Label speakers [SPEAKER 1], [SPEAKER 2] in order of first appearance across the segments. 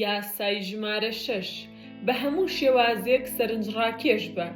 [SPEAKER 1] یاسای ژمارە شەش، بە هەموو شێوازێک سەرنجڕاکێش بە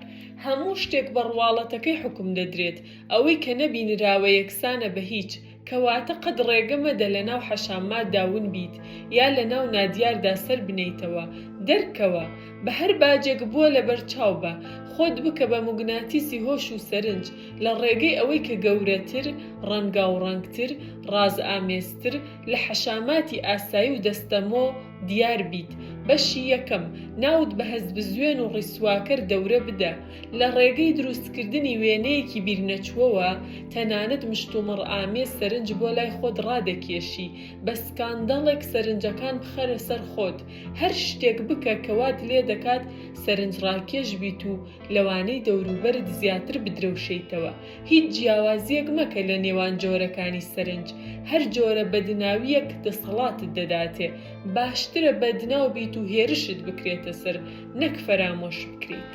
[SPEAKER 1] هەموو شتێک بە ڕواڵەتەکەی حوکم دەدرێت، ئەوەی کە نەبینراوە یەکسانە بە هیچ، کەواتە قەت ڕێگە مەدە لەناو حەشاماتدا ون بیت یا لەناو نادیاردا سەر بنێیتەوە، دەرکەوە، بە هەر باجێک بووە لەبەرچاو بە، خۆت بکە بە موگناتیسی هۆش و سەرنج، لە ڕێگەی ئەوەی کە گەورەتر، ڕەنگاوڕەنگتر، ڕازئامێزتر، لە حەشاماتی ئاسایی و دەستەمۆ دیار بیت. بەشی یەکەم، ناوت بە هەستبزوێن و ڕیسواکەر دەورە بدە. لە ڕێگەی دروستکردنی وێنەیەکی بیرنەچووەوە، تەنانەت مشتومڕئامێز سەرنج بۆ لای خۆت ڕادەکێشی. بە سکانداڵێک سەرنجەکان بخەرە سەر خۆت. هەر شتێک بکە کە وات لێدەکات سەرنجڕاکێش بیت و لەوانەی دەوروبەرت زیاتر بدرەوشێیتەوە، هیچ جیاوازییەک مەکە لە نێوان جۆرەکانی سەرنج، هەر جۆرە بەدناوییەک دەسەڵاتت دەداتێ، باشترە بەدناو بیت و هێرشت بکرێتە سەر نەک فەرامۆش بکریت.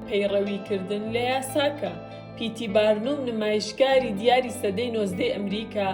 [SPEAKER 1] پەیڕەویکردن لە یاساکە، پی تی بارنوم نمایشکاری دیاری سەدەی نۆزدەی ئەمریکا،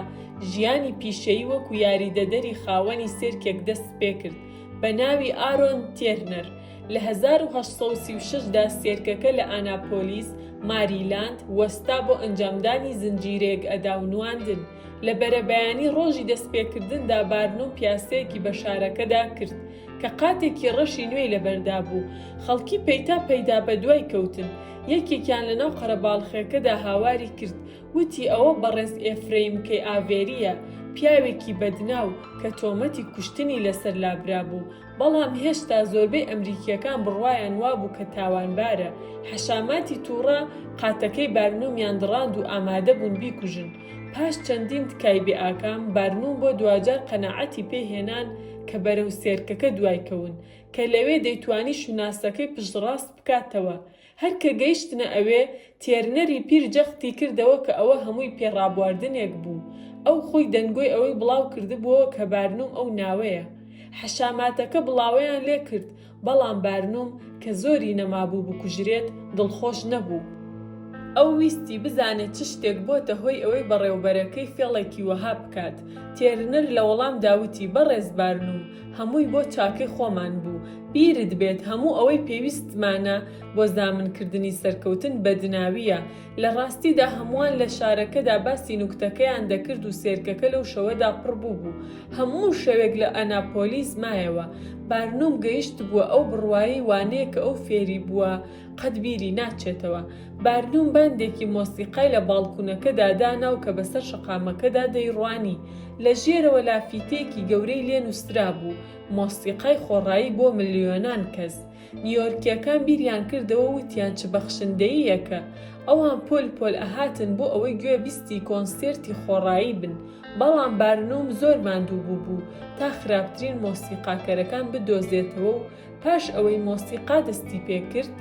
[SPEAKER 1] ژیانی پیشەیی وەکو یاریدەدەری خاوەنی سێرکێک دەستپێکرد بەناوی ئارۆن تێرنەر، لە هەزار و هەشت سەد و سی و شەش دا سێرکەکە لە ئاناپۆلیس، ماریلاند، وەستا بۆ ئەنجامدانی زنجیرەیەک ئەدا و نواندن. لە بەرەبەیانی ڕۆژی دەستپێکردندا بارنۆ پیاسەیەکی بە شارەکەدا کرد، کە قاتێکی ڕەشی نوێی لەبەردا بوو. خەڵکی پەیتا پەیتا بەدوای کەوتن. یەکێکیان لەناو قەرەباڵخێکەدا هاواری کرد، وتی ئەوە بەڕێز ئێفرەیم کەی ئاڤێرییە، پیاوێکی بەدناو، کە تۆمەتی کوشتنی لەسەر لابرابوو. بەڵام هێشتا زۆربەی ئەمریکییەکان بڕوایان وابوو کە تاوانبارە، حەشاماتی تووڕە قاتەکەی بارنومیان دڕاند و ئامادەبوون بیکوژن، پاش چەندین تکای بێ ئاکام، بارنوم بۆ دواجار قەناعەتی پێ هێنان کە بەرەو سێرکەکە دوایکەون، کە لەوێ دەیتوانی شوناسەکەی پشتڕاست بکاتەوە، هەر کە گەیشتنە ئەوێ، تێرنەری پیر جەختی کردەوە کە ئەوە هەمووی پێ ڕابواردنێک بوو. ئەو خۆی دەنگۆی ئەوەی بڵاو کردبووەوە کە بارنووم ئەو ناوەیە. حەشاماتەکە بڵاوەیان لێ کرد، بەڵام بارنووم کە زۆری نەمابوو بکوژرێت، دڵخۆش نەبوو. ئەو ویستی بزانێت چ شتێک بۆتە هۆی ئەوەی بەڕێوەبەرەکەی فێڵێکی وەها بکات. تێرنەر لە وەڵامدا وتی، بەڕێز بارنووم، هەمووی بۆ چاکەی خۆمان بوو بیرت بێت هەموو ئەوەی پێویستمانە بۆ زامنکردنی سەرکەوتن بەدناویە لە ڕاستیدا هەمووان لە شارەکەدا باسی نوکتەکەیان دەکرد و سێرکەکە لەو شەوەدا پڕ بوو بوو هەموو شەوێک لە ئەناپۆلیس مایەوە بارنوم گەیشت بووە ئەو بڕوایی وانەیە کە ئەو فێری بووە قەت بیری ناچێتەوە. بارنوم باندێکی مۆسیقای لە باڵکونەکەدا دانا و کە بەسەر شەقامەکەدا دەیڕوانی، لە ژێرەوە لافیتەیەکی گەورەی لێ نووسرابوو، مۆسیقای خۆڕایی بۆ ملیۆنان کەس. نیۆرکییەکان بیریان کردەوە و وتیان چ بەخشندەییەکە! ئەوان پۆل پۆل ئەهاتن بۆ ئەوەی گوێبیستی کۆنسێرتی خۆڕایی بن. بەڵام بارنوم زۆر ماندوو بووبوو تا خراپترین مۆسیقاکەرەکان بدۆزێتەوە و پاش ئەوەی مۆسیقا دەستی پێکرد،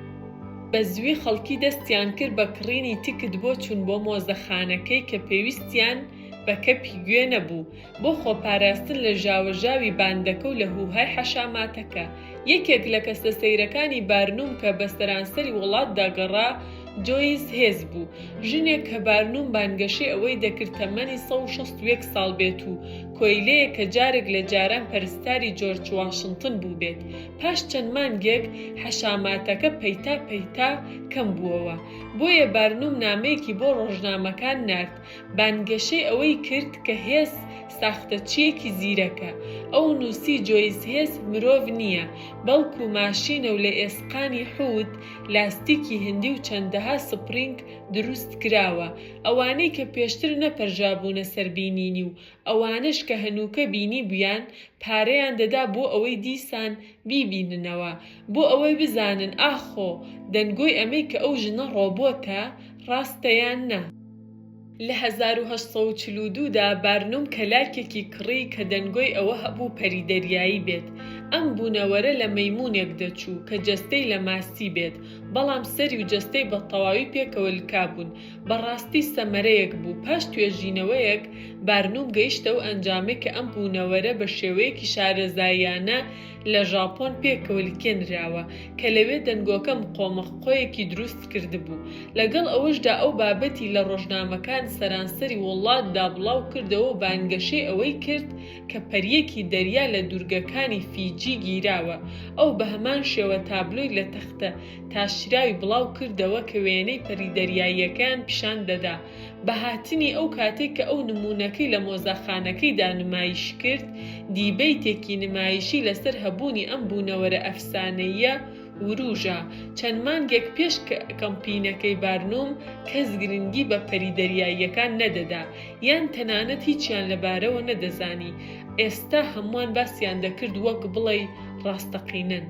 [SPEAKER 1] بە زووی خەڵکی دەستیان کرد بە کڕینی تکت بۆ چوون بۆ مۆزەخانەکەی کە پێویستیان بە کەپی گوێ نەبوو بۆ خۆپاراستن لە ژاوەژاوی باندەکە و لە هووهای حەشاماتەکە. یەکێک لە کەسە سەیرەکانی بارنوم کە بە سەرانسەری وڵاتدا گەڕا، جۆیس هێز بوو، ژنێک کە بارنوم بانگەشەی ئەوەی دەکرد تەمەنی سەد و شەست و یەک ساڵ بێت و کۆیلەیەک کە جارێک لە جاران پەرستاری جۆرج واشنتن بووبێت. پاش چەند مانگێک، حەشاماتەکە پەیتا پەیتا کەم بووەوە، بۆیە بارنوم نامەیەکی بۆ ڕۆژنامەکان نارد، بانگەشەی ئەوەی کرد کە هێز ساختەچییەکی زیرەکە. ئەو نووسی جۆیس هێز مرۆڤ نییە، بەڵکو ماشینە و لە ئێسقانی حووت لاستیکی هندی و چەندەها سپرینگ دروستکراوە، ئەوانەی کە پێشتر نەپەرژابوونە سەر بینینی و ئەوانەش کە هەنووکە بینیبوویان، پارەیان دەدا بۆ ئەوەی دیسان بیبیننەوە، بۆ ئەوەی بزانن ئاخۆ دەنگۆی ئەمەی کە ئەو ژنە ڕۆبۆتە، ڕاستە یان نا. لە هەزار و هەشت سەد و چل و دوو دا بارنوم کەلاکێکی کڕی کە دەنگۆی ئەوە هەبوو پەری دەریایی بێت. ئەم بوونەوەرە لە مەیموونێک دەچوو کە جەستەی لە ماسی بێت، بەڵام سەری و جەستەی بە تەواوی پێکەوە لکابوون. بەڕاستی سەمەرەیەک بوو. پاش توێژینەوەیەک بارنوم گەیشتە ئەو ئەنجامەی کە ئەم بوونەوەرە بە شێوەیەکی شارەزاییانە لە ژاپۆن پێکەوەلکێنراوە کە لەوێ دەنگۆکە مقۆمق قۆیەکی دروست کردبوو. لەگەڵ ئەوەشدا ئەو بابەتی لە ڕۆژنامەکان سەرانسەری وڵاتدا بڵاو کردەوە و بانگەشەی ئەوەی کرد کە پەریەکی دەریا لە دوورگەکانی فیجی گیراوە، ئەو بە هەمان شێوە تابلۆی لە تەختە تاشراوی بڵاو کردەوە کە وێنەی پەری دەریاییەکەیان پیشان دەدا. بە هاتنی ئەو کاتێک کە ئەو نموونەکەی لە مۆزەخانەکەیدا نمایش کرد، دیبەیتێکی نمایشی لەسەر هەبوونی ئەم بوونەوەرە ئەفسانەییە ورووژا. چەند مانگێک پێش کەمپینەکەی بارنوم، کەس گرنگی بە پەری دەریاییەکان نەدەدا، یان تەنانەت هیچیان لەبارەوە نەدەزانی، ئێستا هەمووان باسیان دەکرد وەک بڵێی ڕاستەقینەن.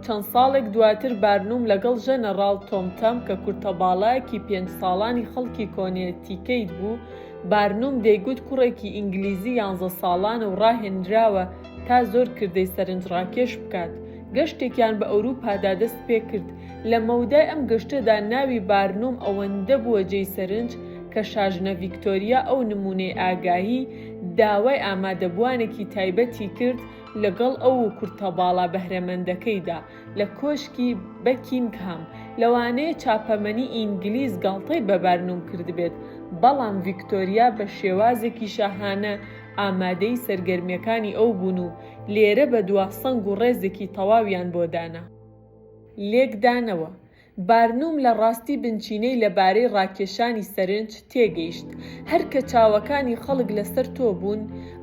[SPEAKER 1] چەند ساڵێک دواتر بارنوم لەگەڵ ژەنەڕاڵ تۆم تەم کە کورتەباڵایەکی پێنج ساڵانی خەڵکی کۆنێتیکەیت بوو، بارنوم دەیگوت کوڕێکی ئینگلیزی یانزە ساڵانە و ڕاهێنراوە تا زۆر کردەی سەرنجڕاکێش بکات، گەشتێکیان بە ئەوروپادا دەستپێکرد، لە مەودای ئەم گەشتەدا ناوی بارنوم ئەوەندە بووە جێی سەرنج کە شاژنە ڤیکتۆریا ئەو نموونەی ئاگاهی داوای ئامادەبووانێکی تایبەتی کرد لەگەڵ ئەو و کورتە باڵا بەهرەمەندەکەیدا لە کۆشکی بەکینگهام، لەوانەیە چاپەمەنی ئینگلیز گاڵتەی بە بارنوم کردبێت، بەڵام ڤیکتۆریا بە شێوازێکی شاهانە ئامادەی سەرگەرمیەکانی ئەو بوون و لێرە بە دوا سەنگ و ڕێزێکی تەواویان بۆ دانا. لێکدانەوە، بارنوم لە ڕاستی بنچینەی لە بارەی ڕاکێشانی سەرنج تێگەیشت، هەر کە چاوەکانی خەڵک لەسەر تۆ بوون،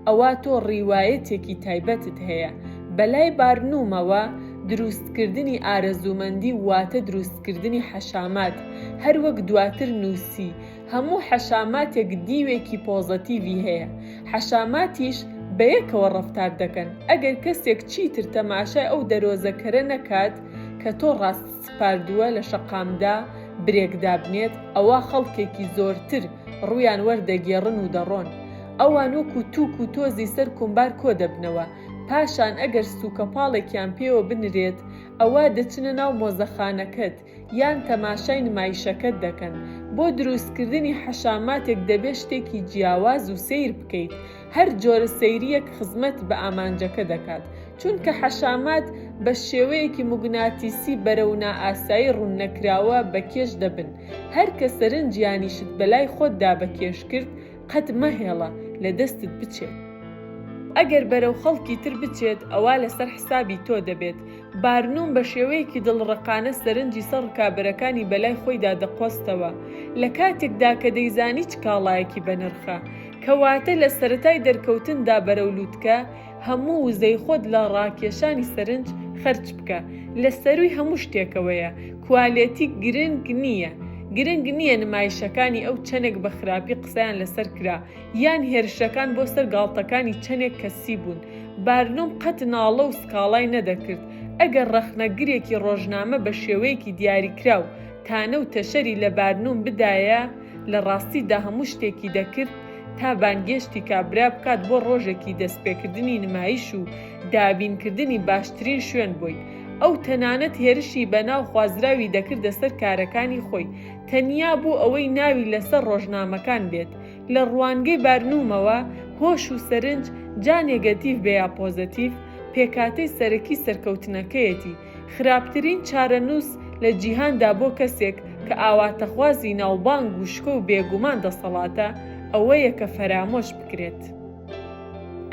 [SPEAKER 1] ئەوا تۆ ڕیوایەتێکی تایبەتت هەیە. بە لای بارنومەوە، درووستکردنی ئارەزوومەندی واتە درووستکردنی حەشامات، هەر وەک دواتر نووسی، هەموو حەشاماتێک دیوێکی پۆزەتیڤی هەیە، حەشاماتیش بە یەکەوە ڕەفتار دەکەن، ئەگەر کەسێک چیتر تەماشای ئەو دەرۆزەکەرە نەکات کە تۆ ڕاست. سپاردووە لە شەقامدا برێک دابنێت ئەوا خەڵکێکی زۆرتر ڕوویان وەردەگێڕن و دەڕۆن ئەوان وەکو تووک و تۆزی سەر کۆمبار کۆدەبنەوە پاشان ئەگەر سووکەپاڵێکیان پێوە بنرێت ئەوا دەچنە ناو مۆزەخانەکەت یان تەماشای نمایشەکەت دەکەن بۆ درووستکردنی حەشاماتێک دەبێت شتێکی جیاواز و سەیر بکەیت هەر جۆرە سەیریەک خزمەت بە ئامانجەکە دەکات، چونکە حەشامات بە شێوەیەکی موگناتیسی بەرەو نائاسایی ڕووننەکراوە بە کێش دەبن، هەر کە سەرنج یانی شت بەلای خۆتدا بە کێش کرد قەت مەهێڵە لە دەستت بچێت. ئەگەر بەرەو خەڵکی تر بچێت ئەوا لەسەر حسابی تۆ دەبێت، بارنوم بە شێوەیەکی دڵڕەقانە سەرنجی سەر ڕکابەرەکانی بەلای خۆیدا دەقۆستەوە، لە کاتێکدا کە دەیزانی چ کاڵایەکی بەنرخە. کەواتە لە سەرەتای دەرکەوتندا بەرەو لووتکە، هەموو وزەی خۆت لە ڕاکێشانی سەرنج خەرج بکە. لە سەرووی هەموو شتێکەوەیە، کوالێتی گرنگ نییە. گرنگ نییە نمایشەکانی ئەو چەندێک بە خراپی قسەیان لەسەر کرا، یان هێرشەکان بۆ سەر گاڵتەکانی چەندێک کەسی بوون، بارنوم قەت ناڵە و سکاڵای نەدەکرد، ئەگەر ڕەخنەگرێکی ڕۆژنامە بە شێوەیەکی دیاریکراو تانە و تەشەری لە بارنوم بدایە، لە ڕاستیدا هەموو شتێکی دەکرد تا بانگێشتی کابرا بکات بۆ ڕۆژێکی دەستپێکردنی نمایش و دابینکردنی باشترین شوێن بۆی، ئەو تەنانەت هێرشی بەناو خوازراوی دەکردە سەر کارەکانی خۆی، تەنیا بۆ ئەوەی ناوی لەسەر ڕۆژنامەکان بێت. لە ڕوانگەی بارنومەوە، هۆش و سەرنج، جا نێگەتیڤ بێ یا پۆزەتیڤ، پێکهاتەی سەرەکی سەرکەوتنەکەیەتی. خراپترین چارەنووس لە جیهاندا بۆ کەسێک کە ئاواتەخوازی ناوبانگ و شکۆ و بێگومان دەسەڵاتە، ئەوەیە کە فەرامۆش بکرێت.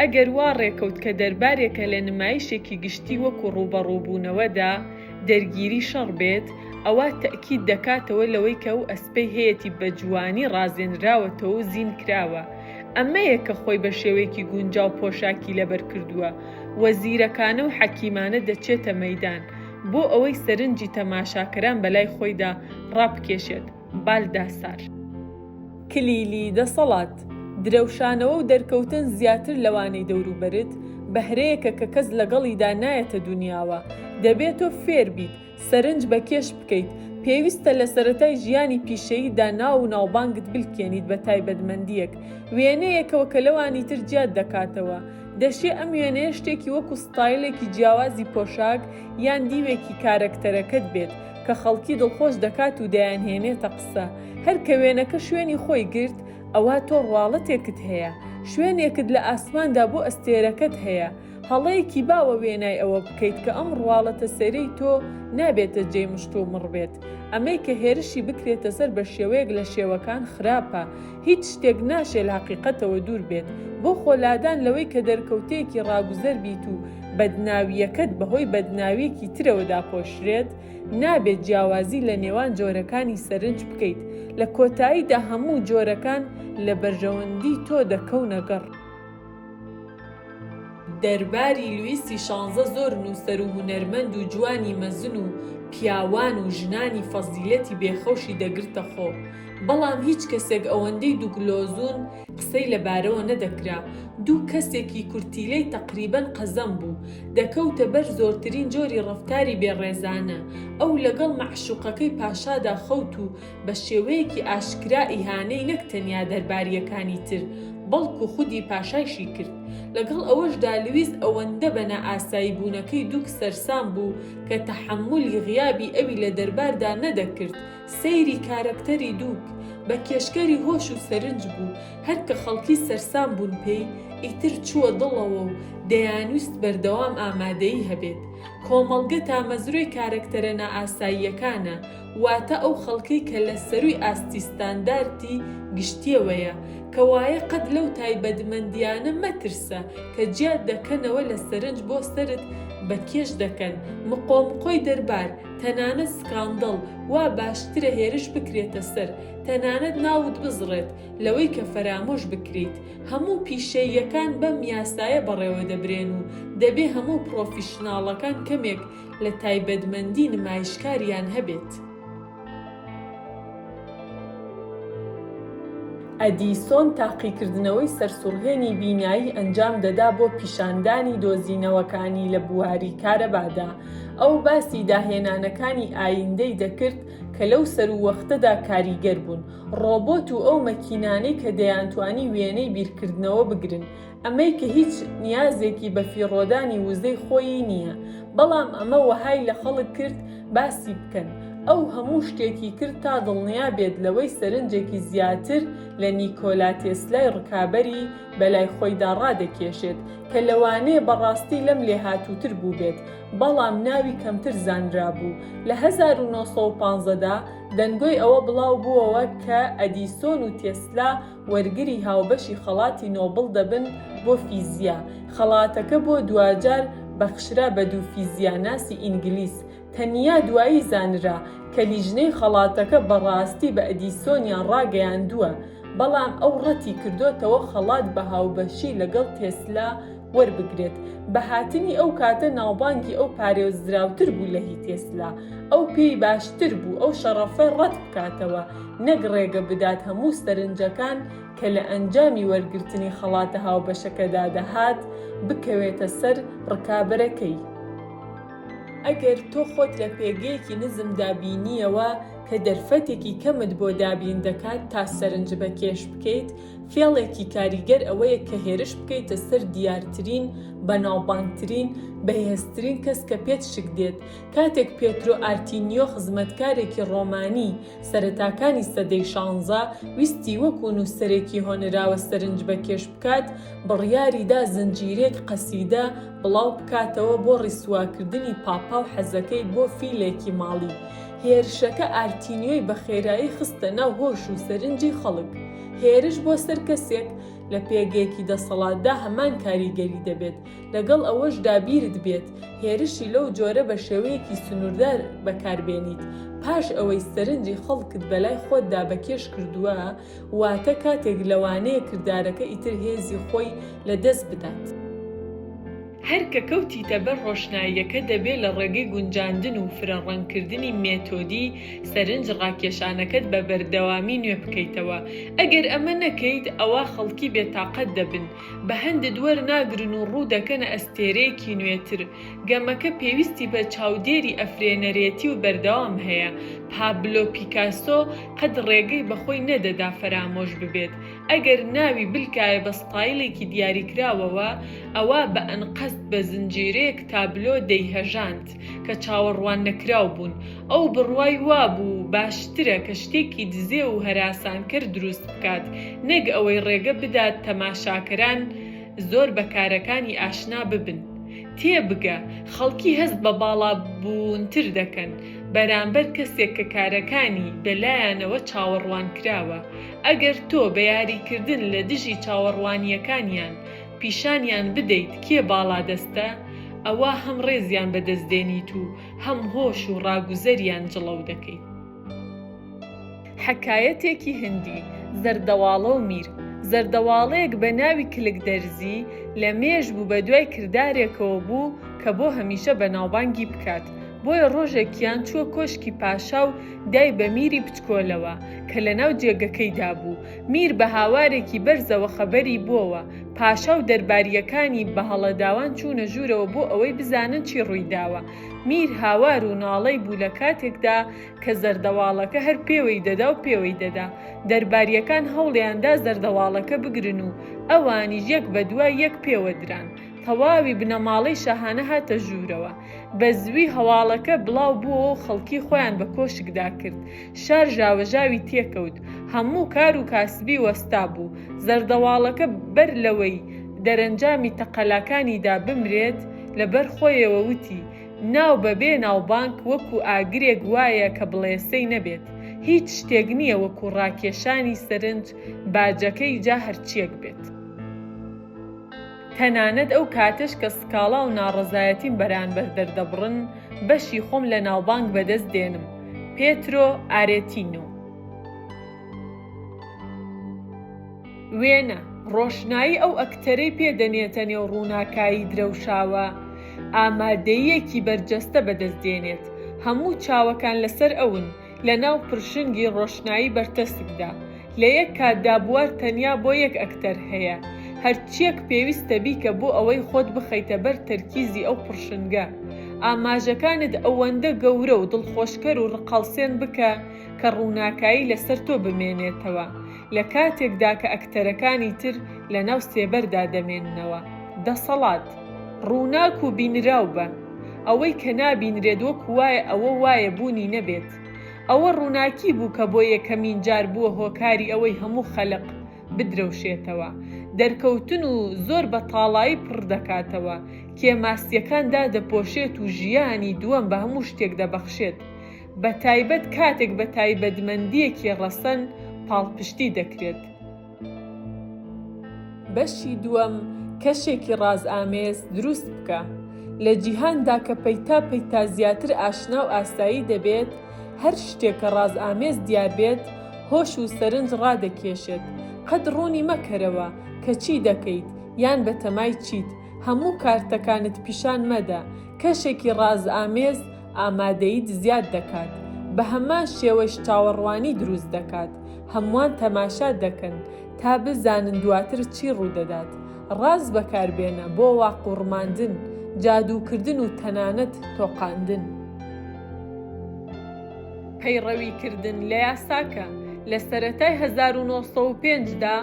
[SPEAKER 1] ئەگەر وا ڕێکەوت کە دەربارێکە لە نمایشێکی گشتی وەکو ڕووبەڕووبوونەوەدا، دەرگیری شەڕ بێت، ئەوا تەئکید دەکاتەوە لەوەی کە ئەو ئەسپەی هەیەتی بە جوانی ڕازێنراوەتەوە و زین کراوە، ئەمەیە کە خۆی بە شێوەیەکی گونجاو پۆشاکی لەبەر کردووە و زیرەکانە و حەکیمانە دەچێتە مەیدان بۆ ئەوەی سەرنجی تەماشاکەران بەلای خۆیدا ڕابکێشێت. بالداسار. کلیلی دەسەڵات، درەوشانەوە و دەرکەوتن زیاتر لەوانەی دەوروبەرت، بەهرەیەکە کە کەس لەگەڵیدا نایەتە دونیاوە، دەبێت تۆ فێر بیت سەرنج بە کێش بکەیت، پێویستە لە سەرەتای ژیانی پیشەییدا ناو و ناوبانگت بلکێنیت بە تایبەتمەندییەک، وێنەیەکەوە کە لەوانی تر جیات دەکاتەوە، دەشێ ئەم وێنەیە شتێکی وەکو ستایلێکی جیاوازی پۆشاک یان دیوێکی کارەکتەرەکەت بێت، کە خەڵکی دڵخۆش دەکات و دەیانهێنێتە قسە هەر کە وێنەکە شوێنی خۆی گرت ئەوا تۆ ڕواڵەتێکت هەیە شوێنێکت لە ئاسماندا بۆ ئەستێرەکەت هەیە هەڵەیەکی باوە وێنای ئەوە بکەیت کە ئەم ڕواڵەتە سەرەی تۆ نابێتە جێی مشتومڕبێت ئەمەی کە هێرشی بکرێتە سەر بە شێوەیەک لە شێوەکان خراپە هیچ شتێک ناشێ لە هەقیقەتەوە دوور بێت، بۆ خۆ لادان لەوەی کە دەرکەوتەیەکی ڕاگوزەر بیت و بەدناوییەکەت بە هۆی بەدناوییەکی ترەوە داپۆشرێت، نابێت جیاوازی لە نێوان جۆرەکانی سەرنج بکەیت، لە کۆتاییدا هەموو جۆرەکان لە بەرژەوەندی تۆ دەکەونە گەڕ. دەرباری لویسی شانزە زۆر نووسەر و هونەرمەند و جوانی مەزن و پیاوان و ژنانی فەزیلەتی بێخەوشی دەگرتە خۆ، بەڵام هیچ کەسێک ئەوەندەی دوگلۆزون قسەی لە بارەوە نەدەکرا، دوو کەسێکی کورتیلەی تەقریبەن قەزەم بوو، دەکەوتە بەر زۆرترین جۆری ڕەفتاری بێڕێزانە، ئەو لەگەڵ مەعشوقەکەی پاشادا خەوت و بە شێوەیەکی ئاشکرا ئیهانەی نەک تەنیا دەربارییەکانی تر، بەڵکو خودی پاشایشی کرد. لەگەڵ ئەوەشدا لویس ئەوەندە بە نائاساییبوونەکەی دوک سەرسام بوو کە تەحەمولی غیابی ئەوی لە دەرباردا نەدەکرد. سەیری کارەکتەری دوک، بە کێشکەری هۆش و سەرنج بوو، هەر کە خەڵکی سەرسام بوون پێی، ئیتر چووە دڵەوە و دەیانویست بەردەوام ئامادەیی هەبێت. کۆمەڵگە تامەزرۆی کارەکتەرە نائاساییەکانە. واتە ئەو خەڵکەی کە لە سەرووی ئاستی ستانداردی گشتییەوەیە، کەوایە قەت لەو تایبەتمەندییانە مەترسە کە جیات دەکەنەوە لە سەرنج بۆ سەرت بە کێش دەکەن، مقۆمقۆی دەربار، تەنانەت سکاندڵ، وا باشترە هێرش بکرێتە سەر، تەنانەت ناوت بزڕێت، لەوەی کە فەرامۆش بکریت. هەموو پیشەییەکان بەم یاسایە بەڕێوە دەبرێن و دەبێ هەموو پڕۆفیشناڵەکان کەمێک لە تایبەتمەندی نمایشکاریان هەبێت. ئەدیسۆن تاقیکردنەوەی سەرسوڕهێنی بینایی ئەنجام دەدا بۆ پیشاندانی دۆزینەوەکانی لە بواری کارەبادا. ئەو باسی داهێنانەکانی ئایندەی دەکرد کە لەو سەرووەختەدا کاریگەر بوون، ڕۆبۆت و ئەو مەکینانەی کە دەیانتوانی وێنەی بیرکردنەوە بگرن، ئەمەی کە هیچ نیازێکی بە فیڕۆدانی وزەی خۆیی نییە، بەڵام ئەمە وەهای لە خەڵک کرد باسی بکەن، ئەو هەموو شتێکی کرد تا دڵنیا بێت لەوەی سەرنجێکی زیاتر لە نیکۆلا تێسلای ڕکابەری بە لای خۆیدا ڕادەکێشێت، کە لەوانەیە بە ڕاستی لەم لێهاتووتر بووبێت، بەڵام ناوی کەمتر زانرابوو. لە هەزار و نۆ سەد و پازدە دا دەنگۆی ئەوە بڵاو بووەوە کە ئەدیسۆن و تێسلا وەرگری هاوبەشی خەڵاتی نۆبڵ دەبن بۆ فیزیا، خەڵاتەکە بۆ دواجار بەخشرا بە دوو فیزیا ناسی ئینگلیز، تەنیا دوایی زانرا کە لیژنەی خەڵاتەکە بە ڕاستی بە ئەدیسۆنیان ڕاگەیاندووە، بەڵام ئەو ڕەتی کردۆتەوە خەڵات بە هاوبەشی لەگەڵ تێسلا وەربگرێت بە هاتنی ئەو کاتە ناوبانگی ئەو پارێزراوتر بوو لە هی تێسلا ئەو پێی باشتر بوو ئەو شەڕەفە ڕەت بکاتەوە نەک ڕێگە بدات هەموو سەرنجەکان کە لە ئەنجامی وەرگرتنی خەڵاتە هاوبەشەکەدا دەهات بکەوێتە سەر ڕکابەرەکەی. ئەگەر تۆ خۆت لە پێگەیەکی نزمدا بینییەوە کە دەرفەتێکی کەمت بۆ دابین دەکات تا سەرنج بەکێش بکەیت، فێڵێکی کاریگەر ئەوەیە کە هێرش بکەیتە سەر دیارترین، بەناوبانگترین، بەهێزترین کەس کە پێت شک دێت. کاتێک پێترۆ ئارتینیۆ خزمەتکارێکی ڕۆمانی سەرەتاکانی سەدەی شانزە ویستی وەکوو نووسەرێکی هۆنراوە سەرنج بەکێش بکات، بڕیاری دا زنجیرەیەک قەسیدە بڵاو بکاتەوە بۆ ڕیسواکردنی پاپا و حەزەکەی بۆ فیلێکی ماڵی. هێرشەکە ئارتینیۆی بە خێرایی خستە ناو هۆش و سەرنجی خەڵک. هێرش بۆ سەر کەسێک لە پێگەیەکی دەسەڵاتدا هەمان کاریگەری دەبێت لەگەڵ ئەوەشدا بیرت بێت هێرشی لەو جۆرە بە شێوەیەکی سنووردار بەکاربێنیت پاش ئەوەی سەرنجی خەڵکت بەلای خۆتدا بەکێش کردووە واتە کاتێک لەوانەیە کردارەکە ئیتر هێزی خۆی لەدەست بدات. هەر کە کەوتیتە بەر ڕۆشناییەکە دەبێ لە ڕێگەی گونجاندن و فرە ڕەنگکردنی مێتۆدی سەرنج ڕاکێشانەکەت بە بەردەوامی نوێ بکەیتەوە ئەگەر ئەمە نەکەیت ئەوا خەڵکی بێ تاقەت دەبن بە هەندت وەر ناگرن و ڕوو دەکەنە ئەستێرەیەکی نوێتر گەمەکە پێویستی بە چاودێری ئەفرێنەرێتی و بەردەوام هەیە پابلۆ پیکاسۆ قەت ڕێگەی بە خۆی نەدەدا فەرامۆش ببێت ئەگەر ناوی بلکایە بە ستایلێکی دیاریکراوەوە، ئەوا بە ئەنقەست بە زنجیرەیەک تابلۆ دەیهەژاند کە چاوەڕواننەکراو بوون. ئەو بڕوای وابوو باشترە کە شتێکی دزێو و هەراسانکەر دروست بکات، نەک ئەوەی ڕێگە بدات تەماشاکەران زۆر بە کارەکانی ئاشنا ببن. تێبگە، خەڵکی هەست بە باڵابوونتر دەکەن بەرامبەر کەسێک کە کارەکانی بە لایانەوە چاوەڕوانکراوە، ئەگەر تۆ بە یاریکردن لە دژی چاوەڕوانییەکانیان پیشانیان بدەیت کێ باڵادەستە، ئەوا هەم ڕێزیان بەدەست دێنیت و هەم هۆش و ڕاگوزەریان جڵەو دەکەیت. حەکایەتێکی هندی، زەردەواڵە و میر، زەردەواڵەیەک بە ناوی کلک دەرزی لە مێژ بوو بەدوای کردارێکەوە بوو کە بۆ هەمیشە بەناوبانگی بکات، بۆیە ڕۆژێکیان چووە کۆشکی پاشا و دای بە میری بچکۆلەوە کە لە ناو جێگەکەیدا بوو. میر بە هاوارێکی بەرزەوە خەبەری بووەوە. پاشا و دەربارییەکانی بە هەڵەداوان چوونە ژوورەوە بۆ ئەوەی بزانن چی ڕووی داوە. میر هاوار و ناڵەی بوو لە کاتێکدا کە زەردەواڵەکە هەر پێوەی دەدا و پێوەی دەدا. دەربارییەکان هەوڵیان دا زەردەواڵەکە بگرن و ئەوانیش یەک بە دوای یەک پێوە دران. تەواوی بنەماڵەی شاهانە هاتە ژوورەوە. بە زووی هەواڵەکە بڵاو بووەوە و خەڵکی خۆیان بە کۆشکدا کرد. شار ژاوەژاوی تێکەوت. هەموو کار و کاسبی وەستا بوو. زەردەواڵەکە بەر لەوەی دەرەنجامی تەقەلاکانی دا بمرێت، لە بەر خۆیەوە وتی، ناو بە بێ ناوبانگ وەکوو ئاگرێک وایە کە بڵێسەی نەبێت. هیچ شتێک نییە وەکوو ڕاکێشانی سەرنج باجەکەی جا هەرچییەک بێت. تەنانەت ئەو کاتەش کە سکاڵا و ناڕەزایەتیم بەرانبەر دەردەبڕن، بەشی خۆم لە ناوبانگ بەدەست دێنم. پێترۆ ئارێتینۆ. وێنە، ڕۆشنایی ئەو ئەکتەرەی پێ دەنێتە نێو ڕووناکایی درەوشاوە، ئامادەییەکی بەرجەستە بەدەست دێنێت، هەموو چاوەکان لەسەر ئەون، لەناو پرشنگی ڕۆشنایی بەرتەسکدا لە یەک کاتدا بوار تەنیا بۆ یەک ئەکتەر هەیە هەرچیەک پێویستە بیکە بۆ ئەوەی خۆت بخەیتە بەر تەرکیزی ئەو پڕشنگە ئاماژەکانت ئەوەندە گەورە و دڵخۆشکەر و ڕقهەڵسێن بکە کە ڕووناکایی لەسەر تۆ بمێنێتەوە لە کاتێکدا کە ئەکتەرەکانی تر لەناو سێبەردا دەمێننەوە. دەسەڵات. ڕووناک و بینراو بە. ئەوەی کە نابینرێت وەکو وایە ئەوە وایە بوونی نەبێت. ئەوە ڕووناکی بوو کە بۆ یەکەمین جار بووە هۆکاری ئەوەی هەموو خەلق بدرەوشێتەوە. دەرکەوتن و زۆر بە تاڵایی پڕ دەکاتەوە. کێماسیەکان دادەپۆشێت و ژیانی دووەم بە هەموو شتێک دەبەخشێت. بە تایبەت کاتێک بە تایبەتمەندییەکی ڕەسەن پاڵپشتی دەکرێت. بەشی دووەم، کەشێکی ڕازئامێز دروست بکە. لە جیهاندا کە پەیتا پەیتا زیاتر ئاشنا و ئاسایی دەبێت، هەر شتێک کە ڕازئامێز دیار بێت، هۆش و سەرنج ڕادەکێشێت. قەت ڕوونی مەکەرەوە کە چی دەکەیت یان بەتەمای چیت. هەموو کارتەکانت پیشان مەدە. کەشێکی ڕازئامێز ئامادەیت زیاد دەکات، بە هەمان شێوەش چاوەڕوانی دروست دەکات، هەمووان تەماشا دەکەن تا بزانن دواتر چی ڕوودەدات. ڕاز بەکاربێنە بۆ واقوڕماندن، جادووکردن و تەنانەت تۆقاندن. پەیڕەویکردن لە یاساکە، لە سەرەتای هەزار و نۆ سەد و پێنج دا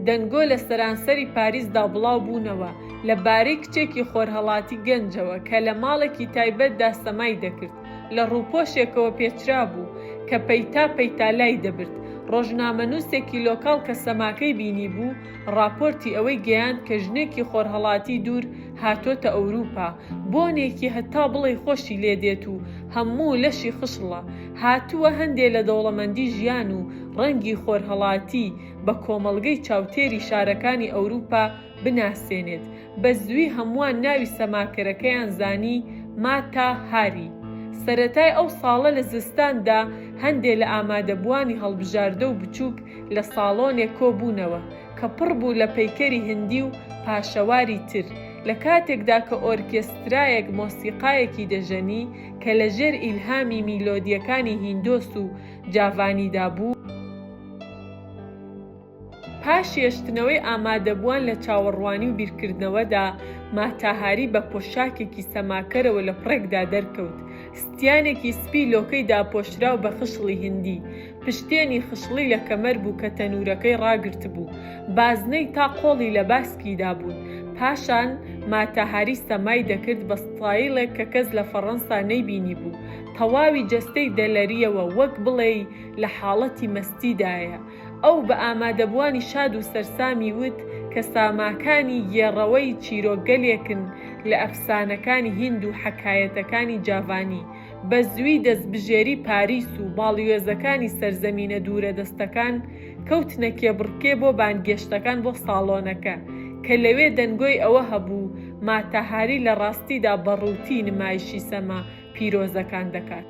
[SPEAKER 1] دەنگۆ لە سەرانسەری پاریسدا بڵاوبوونەوە، لە بارەی کچێکی خۆرهەڵاتی گەنجەوە کە لە ماڵێکی تایبەتدا سەمای دەکرد، لە ڕووپۆشێکەوە پێچرابوو کە پەیتا پەیتا لای دەبرد، ڕۆژنامەنووسێکی لۆکاڵ کە سەماکەی بینیبوو، ڕاپۆرتی ئەوەی گەیاند کە ژنێکی خۆرهەڵاتی دوور هاتۆتە ئەوروپا، بۆنێکی هەتا بڵێی خۆشی لێ دێت و هەموو لەشی خشڵە، هاتووە هەندێ لە دەوڵەمەندی ژیان و ڕەنگی خۆرهەڵاتی بە کۆمەڵگەی چاوتێری شارەکانی ئەوروپا بناسێنێت، بە زووی هەمووان ناوی سەماکەرەکەیان زانی، ماتا هاری. سەرەتای ئەو ساڵە لە زستاندا هەندێ لە ئامادەبووانی هەڵبژاردە و بچووک لە ساڵۆنێک کۆ بوونەوە کە پڕ بوو لە پەیکەری هندی و پاشەواری تر، لە کاتێکدا کە ئۆرکێسترایەک مۆسیقایەکی دەژەنی کە لە ژێر ئیلهامی میلۆدییەکانی هیندۆس و جاڤانیدا بوو. پاش هێشتنەوەی ئامادەبووان لە چاوەڕوانی و بیرکردنەوەدا، ماتا هاری بە پۆشاکێکی سەماکەرەوە لە پڕێکدا دەرکەوت، ستیانێکی سپی لۆکەی داپۆشراو بە خشڵی هندی، پشتێنی خشڵی لە کەمەر بوو کە تەنوورەکەی ڕاگرتبوو، بازنەی تا قۆڵی لە باسکیدا بوون، پاشان ماتا هاری سەمای دەکرد بە ستایڵێک کە کەس لە فەڕەنسا نەیبینیبوو، تەواوی جەستەی دەلەرییەوە وەک بڵێی لە حاڵەتی مەستیدایە، ئەو بە ئامادەبووانی شاد و سەرسامی وت کە ساماکانی گێڕەوەی چیرۆکگەلێکن لە ئەفسانەکانی هیند و حەکایەتەکانی جاڤانی، بە زووی دەستبژێری پاریس و باڵیۆزەکانی سەرزەمینە دوورەدەستەکان کەوتنە کێبڕکێ بۆ بانگێشتەکان بۆ ساڵۆنەکە، کە لەوێ دەنگۆی ئەوە هەبوو ماتا هاری لە ڕاستیدا بە ڕووتی نمایشی سەما پیرۆزەکان دەکات.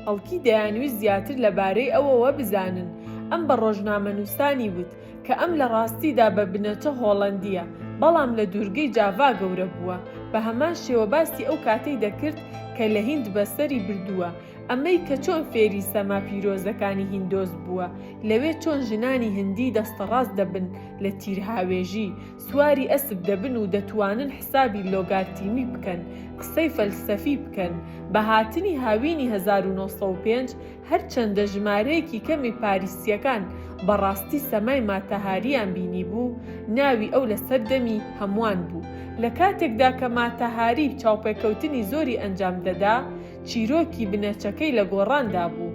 [SPEAKER 1] خەڵکی دەیانویست زیاتر لە بارەی ئەوەوە بزانن، ئەم بە ڕۆژنامەنووسانی وت کە ئەم لە ڕاستیدا بە بنەچە هۆڵەندییە، بەڵام لە دوورگەی جاڤا گەورە بووە، بە هەمان شێوە باسی ئەو کاتەی دەکرد کە لە هیند بەسەری بردووە، ئەمەی کە چۆن فێری سەما پیرۆزەکانی هیندۆس بووە، لەوێ چۆن ژنانی هندی دەستەڕاست دەبن لە تیرهاوێژی، سواری ئەسپ دەبن و دەتوانن حسابی لۆگارتیمی بکەن، قسەی فەلسەفی بکەن. بە هاتنی هاوینی هەزار و نۆ سەد و پێنج، هەرچەندە ژمارەیەکی کەمی پاریسییەکان بە ڕاستی سەمای ماتاهارییان بینیبوو، ناوی ئەو لەسەر دەمی هەمووان بوو. لە کاتێکدا کە ماتاهاری چاوپێکەوتنی زۆری ئەنجام دەدا، چیرۆکی بنەچەکەی لە گۆڕاندا بوو.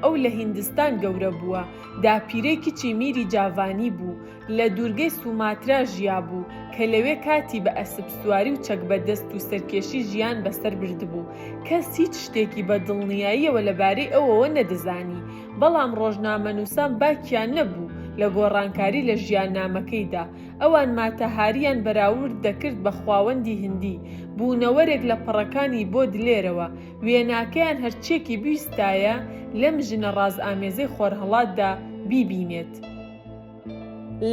[SPEAKER 1] ئەو لە هیندستان گەورە بووە. داپیرەی کچی میری جاڤانی بوو، لە دوورگەی سوماترا ژیابوو، کە لەوێ کاتی بە ئەسپ سواری و چەک بە دەست و سەرکێشی ژیان بەسەر بردبوو. کەس هیچ شتێکی بە دڵنیاییەوە لەبارەی ئەوەوە نەدەزانی، بەڵام ڕۆژنامەنووسان باکیان نەبوو لە گۆڕانکاری لە ژیاننامەکەیدا. ئەوان ماتاهارییان بەراورد دەکرد بە خواوەندی هندی، بوونەوەرێک لە پەڕەکانی بۆدلێرەوە، وێناکەیان هەرچیەکی بیستایە لەم ژنە ڕازئامێزەی خۆرهەڵاتدا بیبینێت.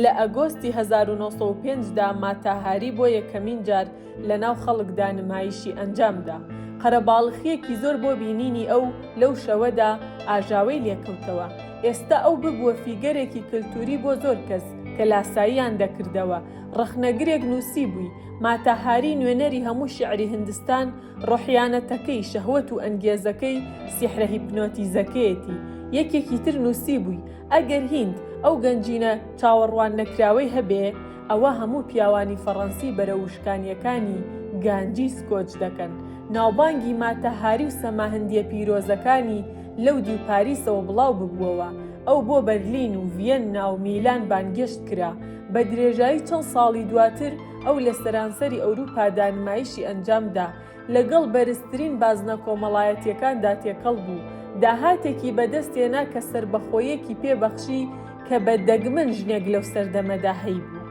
[SPEAKER 1] لە ئەگۆستی هەزار و نۆ سەد و پێنج دا ماتا هاری بۆ یەکەمین جار لەناو خەڵکدا نمایشی ئەنجامدا. قەرەباڵخیەکی زۆر بۆ بینینی ئەو لەو شەوەدا ئاژاوەی لێکەوتەوە. ئێستا ئەو ببووە فیگەرێکی کەلتوری بۆ زۆر کەس کە لاساییان دەکردەوە. ڕەخنەگرێک نووسیبووی، ماتا هاری نوێنەری هەموو شیعری هندستان ڕۆحیانەتەکەی، شەهوەت و ئەنگێزەکەی، سیحرە هیپنۆتیزەکەیەتی. یەکێکی تر نووسیبووی، ئەگەر هیند ئەو گەنجینە چاوەڕواننەکراوەی هەبێ، ئەوا هەموو پیاوانی فەڕەنسی بەرەو وشکانییەکانی گانجیس کۆچ دەکەن. ناوبانگی ماتا هاری و سەما هندییە پیرۆزەکانی لەو دیو پاریسەوە بڵاو ببووەوە. ئەو بۆ بەرلین و ڤیەننا و میلان بانگێشت کرا. بە درێژایی چەند ساڵی دواتر، ئەو لە سەرانسەری ئەوروپادا نمایشی ئەنجامدا، لەگەڵ بەرزترین بازنە کۆمەڵایەتییەکاندا تێکەڵ بوو، داهاتێکی بەدەستهێنا کە سەربەخۆییەکی پێ بەخشی کە بە دەگمەن ژنێک لەو سەردەمەدا هەیبوو.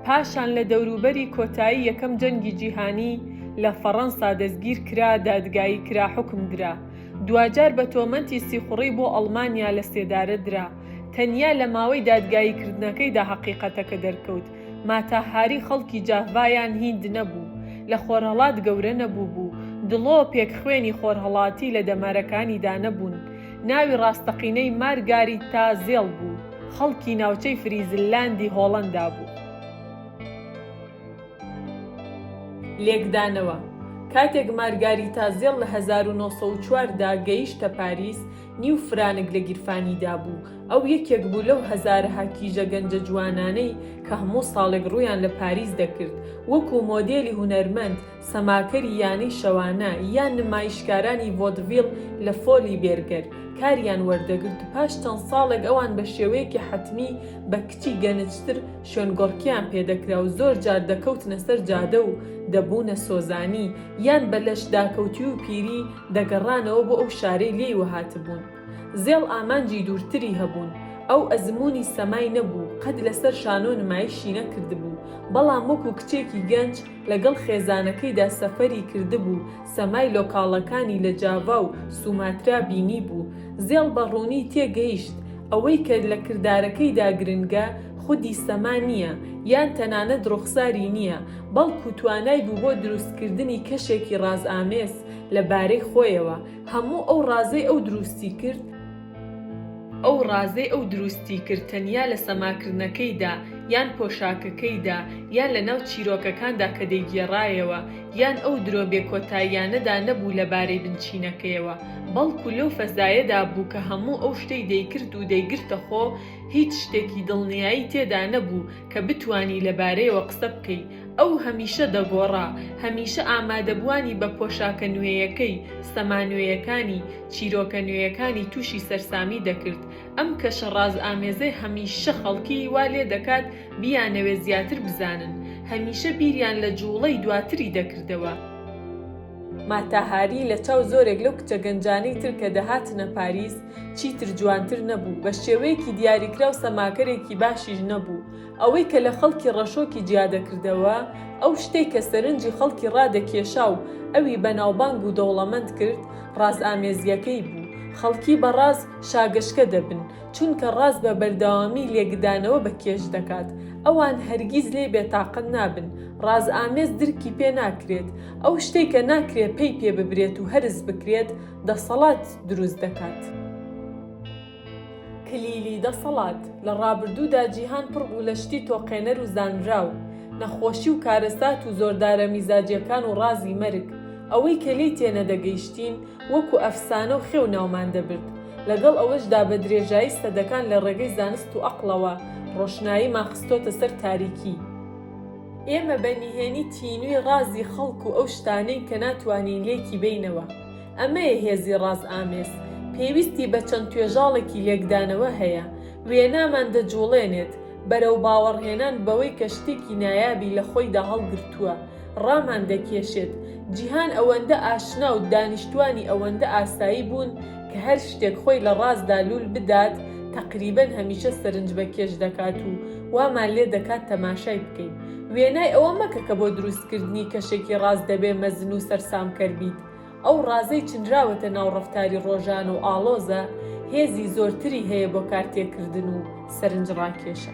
[SPEAKER 1] پاشان لە دەوروبەری کۆتایی یەکەم جەنگی جیهانی، لە فەڕەنسا دەستگیر کرا، دادگایی کرا، حوکم درا. دواجار بە تۆمەتی سیخوڕی بۆ ئەڵمانیا لە سێدارە درا. تەنیا لە ماوەی دادگاییکردنەکەیدا هەقیقەتەکە دەرکەوت، ماتا هاری خەڵکی جاڤا یان هیند نەبوو، لە خۆرهەڵات گەورە نەبووبوو، دڵۆپێک خوێنی خۆرهەڵاتی لە دەمارەکانیدا نەبوون. ناوی ڕاستەقینەی مارگاریتا زێڵ بوو، خەڵکی ناوچەی فریزللاندی هۆڵەندا بوو. لێکدانەوە، کاتێک مارگاریتا زێڵ لە هەزار و نۆ سەد و چوار دا گەیشتە پاریس، نیو فرانک لە گیرفانیدا بوو، ئەو یەکێک بوو لەو هەزارەها کیژە گەنجە جوانانەی کە هەموو ساڵێک ڕوویان لە پاریس دەکرد وەکوو مۆدێلی هونەرمەند، سەماکەری یانەی شەوانە، یان نمایشکارانی ڤۆدڤیڵ لە فۆلی بێرگەر، کاریان وەردەگرت و پاش چەند ساڵێک ئەوان بە شێوەیەکی حەتمی بە کچی گەنجتر شوێنگۆڕکێیان پێ دەکرا و زۆر جار دەکەوتنە سەر جادە و دەبوونە سۆزانی یان بە لەشداکەوتووی و پیری دەگەڕانەوە بۆ ئەو شارەی لێی وەهاتبوون. زێڵ ئامانجی دوورتری هەبوون. ئەو ئەزموونی سەمای نەبوو، قەت لەسەر شانۆ نمایشی نەکردبوو، بەڵام وەکو کچێکی گەنج لەگەڵ خێزانەکەیدا سەفەری کردبوو، سەمای لۆکاڵەکانی لە جاڤا و سوماترا بینیبوو. زێڵ بە ڕوونی تێگەیشت ئەوەی کە لە کردارەکەیدا گرنگە خودی سەما نییە، یان تەنانەت ڕوخساری نییە، بەڵکو توانای بوو بۆ دروستکردنی کەشێکی ڕازئامێز لە بارەی خۆیەوە هەموو ئەو ڕازەی ئەو دروستی کرد، ئەو ڕازەی ئەو دروستی کرد تەنیا لە سەماکردنەکەیدا یان پۆشاکەکەیدا یان لە ناو چیرۆکەکاندا کە دەیگێڕایەوە یان ئەو درۆ بێ کۆتاییانەدا نەبوو لە بارەی بنچینەکەیەوە بەڵکو لەو فەزایەدا بوو کە هەموو ئەو شتەی دەیکرد و دەیگرتە خۆ هیچ شتێکی دڵنیایی تێدا نەبوو کە بتوانی لە بارەیەوە قسە بکەی ئەو هەمیشە دەگۆڕا، هەمیشە ئامادەبووانی بە پۆشاکە نوێیەکەی، سەما نوێیەکانی، چیرۆکە نوێیەکانی تووشی سەرسامی دەکرد. ئەم کەشە ڕازئامێزەی هەمیشە خەڵکی وا لێ دەکات بیانەوێ زیاتر بزانن. هەمیشە بیریان لە جووڵەی دواتری دەکردەوە. ماتا هاری لە چاو زۆرێک لەو کچە گەنجانەی تر کە دەهاتنە پاریس چیتر جوانتر نەبوو، بە شێوەیەکی دیاریکراو سەماکەرێکی باشیش نەبوو. ئەوەی کە لە خەڵکی ڕەشۆکی جیا دەکردەوە، ئەو شتەی کە سەرنجی خەڵکی ڕادەکێشا و ئەوی بەناوبانگ و دەوڵەمەند کرد، ڕازئامێزییەکەی بوو. خەڵکی بە ڕاز شاگەشکە دەبن، چونکە ڕاز بە بەردەوامی لێکدانەوە بە کێش دەکات. ئەوان هەرگیز لێی بێتاقەت نابن. ڕازئامێز درکی پێ ناکرێت. ئەو شتەی کە ناکرێت پەی پێ ببرێت و هەرس بکرێت، دەسەڵات دروست دەکات. کلیلی دەسەڵات، لە ڕابردوودا جیهان پڕ بوو لە شتی تۆقێنەر و زانراو، نەخۆشی و کارەسات و زۆردارە میزاجیەکان و ڕازی مەرگ، ئەوەی کە لێی تێنەدەگەیشتین وەکو ئەفسانە و خێو ناومان دەبرد، لەگەڵ ئەوەشدا بە درێژایی سەدەکان لە ڕێگەی زانست و ئەقڵەوە ڕۆشناییمان خستۆتە سەر تاریکی. ئێمە بە نهێنی تینووی ڕازی خەڵک و ئەو شتانەین کە ناتوانین لێکی بێینەوە، ئەمەیە هێزی ڕاز ئامێز، پێویستی بە چەند توێژاڵێکی لێکدانەوە هەیە، وێنامان دەجوڵێنێت بەرەو باوەڕهێنان بەوەی کە شتێکی نایابی لە خۆیدا هەڵگرتووە، ڕامان دەکێشێت، جیهان ئەوەندە ئاشنا و دانیشتوانی ئەوەندە ئاسایی بوون کە هەر شتێک خۆی لە ڕازدا لوول بدات تەقریبەن هەمیشە سەرنجبەکێش دەکات و وامان لێ دەکات تەماشای بکەین، وێنای ئەوە مەکە کە بۆ دروستکردنی کەشێکی ڕاز دەبێ مەزن و سەرسامکەر بیت، ئەو ڕازەی چنراوەتە ناو ڕەفتاری ڕۆژانە و ئاڵۆزە، هێزی زۆرتری هەیە بۆ کارتێکردن و سەرنجڕاکێشە.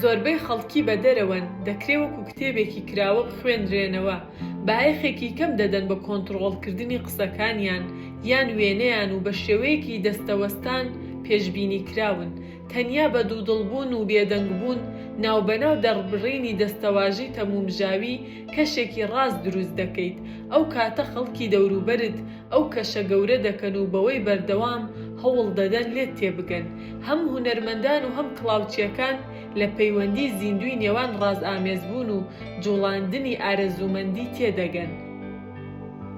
[SPEAKER 1] زۆربەی خەڵکی بە دەرەوەن، دەکرێ وەکو کتێبێکی کراوە بخوێنرێنەوە، بایەخێکی کەم دەدەن بە کۆنتڕۆڵکردنی قسەکانیان یان وێنەیان و بە شێوەیەکی دەستەوەستان پێشبینیکراون، تەنیا بە دوودڵبوون و بێدەنگبوون ناوبەناو دەڕبڕینی دەستەواژەی تەمومژاوی کەشێکی ڕاست دروست دەکەیت، ئەو کاتە خەڵکی دەوروبەرت ئەو کەشە گەورە دەکەن و بەوەی بەردەوام هەوڵ دەدەن لێت تێبگەن. هەم هونەرمەندان و هەم کڵاوچییەکان لە پەیوەندی زیندووی نێوان ڕازئامێزبوون و جوڵاندنی ئارەزوومەندی تێدەگەن.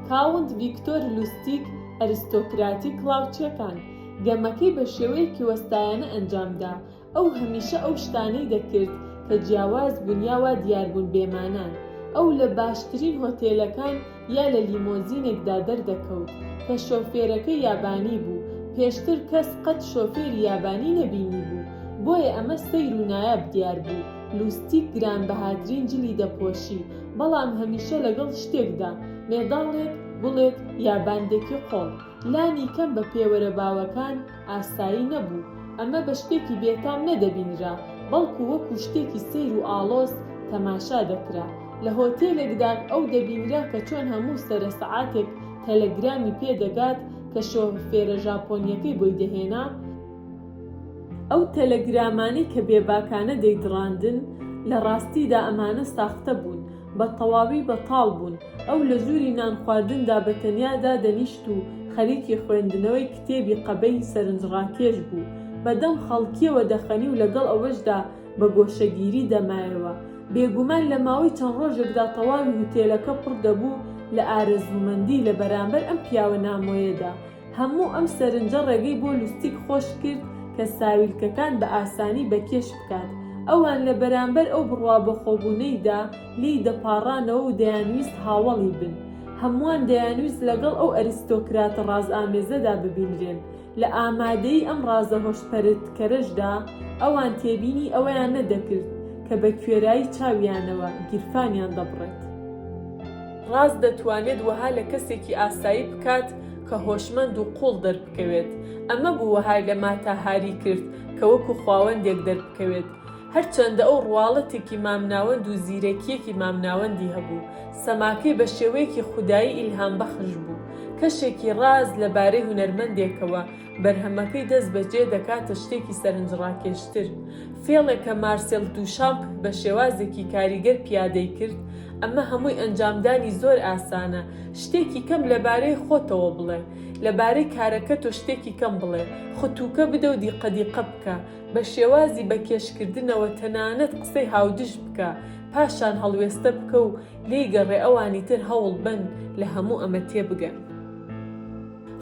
[SPEAKER 1] کاونت ڤیکتۆر لوستیگ، ئەرستۆکراتی کڵاوچییەکان، گەمەکەی بە شێوەیەکی وەستایانە ئەنجام دا، ئەو هەمیشە ئەو شتانەی دەکرد کە جیاواز بوون یا وا دیار بوون بێمانان. ئەو لە باشترین هۆتێلەکان یا لە لیمۆزینێکدا دەردەکەوت کە شۆفێرەکەی یابانی بوو، پێشتر کەس قەت شۆفێری یابانی نەبینیبوو، بۆیە ئەمە سەیر و نایاب دیار بوو. لوستیک گرانبەهاترین جلی دەپۆشی، بەڵام هەمیشە لەگەڵ شتێکدا، مێداڵێک، گوڵێک، یا باندێکی قۆڵ. لانیکەم بە پێوەرە باوەکان، ئاسایی نەبوو، ئەمە بە شتێکی بێتام نەدەبینرا، بەڵکو وەکو شتێکی سەیر و ئاڵۆز تەماشا دەکرا. لە هۆتێلێکدا ئەو دەبینرا کە چۆن هەموو سەرە سەعاتێک تەلەگرامی پێ دەگات کە شۆفێرە ژاپۆنییەکەی بۆی دەهێنا، ئەو تەلەگرامانەی کە بێباکانە دەیدڕاندن، لە ڕاستیدا ئەمانە ساختە بوون، بە تەواوی بەتاڵ بوون، ئەو لە ژووری نانخواردندا بە تەنیا دادەنیشت و خەریکی خوێندنەوەی کتێبی قەبەی سەرنجڕاکێش بوو، بە دەم خەڵکییەوە دەخەنی و لەگەڵ ئەوەشدا بە گۆشەگیری دەمایەوە. بێگومان لە ماوەی چەند ڕۆژێکدا تەواوی هوتێلەکە پڕ دەبوو لە ئارەزوومەندی لە بەرامبەر ئەم پیاوە نامۆیەدا، هەموو ئەم سەرنجە ڕێگەی بۆ لوستیک خۆش کرد کە ساویلکەکان بە ئاسانی بە کێش بکات. ئەوان لە بەرامبەر ئەو بڕوا بەخۆبوونەیدا لێی دەپاڕانەوە و دەیانویست هاوەڵی بن. هەمووان دەیانویست لەگەڵ ئەو ئەریستۆکراتە ڕازئامێزەدا ببینرێن. لە ئامادەیی ئەم ڕازە هۆشپەرتکەرەشدا ئەوان تێبینی ئەوەیان نەدەکرد کە بە کوێرایی چاویانەوە گیرفانیان دەبڕێت. ڕاز دەتوانێت وەها لە کەسێکی ئاسایی بکات، کە هۆشمەند و قوڵ دەربکەوێت، ئەمە بوو وەهای لە ماتا هاری کرد کە وەکو خواوەندێک دەربکەوێت. هەرچەندە ئەو ڕواڵەتێکی مامناوەند و زیرەکییەکی مامناوەندی هەبوو، سەماکەی بە شێوەیەکی خودایی ئیلهامبەخش بوو، کەشێکی ڕاست لەبارەی هونەرمەندێکەوە، بەرهەمەکەی دەست بەجێ دەکاتە شتێکی سەرنجڕاکێشتر. فێڵێک کە مارسێل دووشامپ بە شێوازێکی کاریگەر پیادەی کرد، ئەمە هەمووی ئەنجامدانی زۆر ئاسانە، شتێکی کەم لەبارەی خۆتەوە بڵێ، لەبارەی کارەکە تۆ شتێکی کەم بڵێ، ختووکە بدە و دیقەدیقە بکە، بە شێوازی بە کێشکردنەوە تەنانەت قسەی هاودژ بکە، پاشان هەڵوێستە بکە و لێی گەڕێ ئەوانی تر هەوڵبەن لە هەموو ئەمە تێبگەن.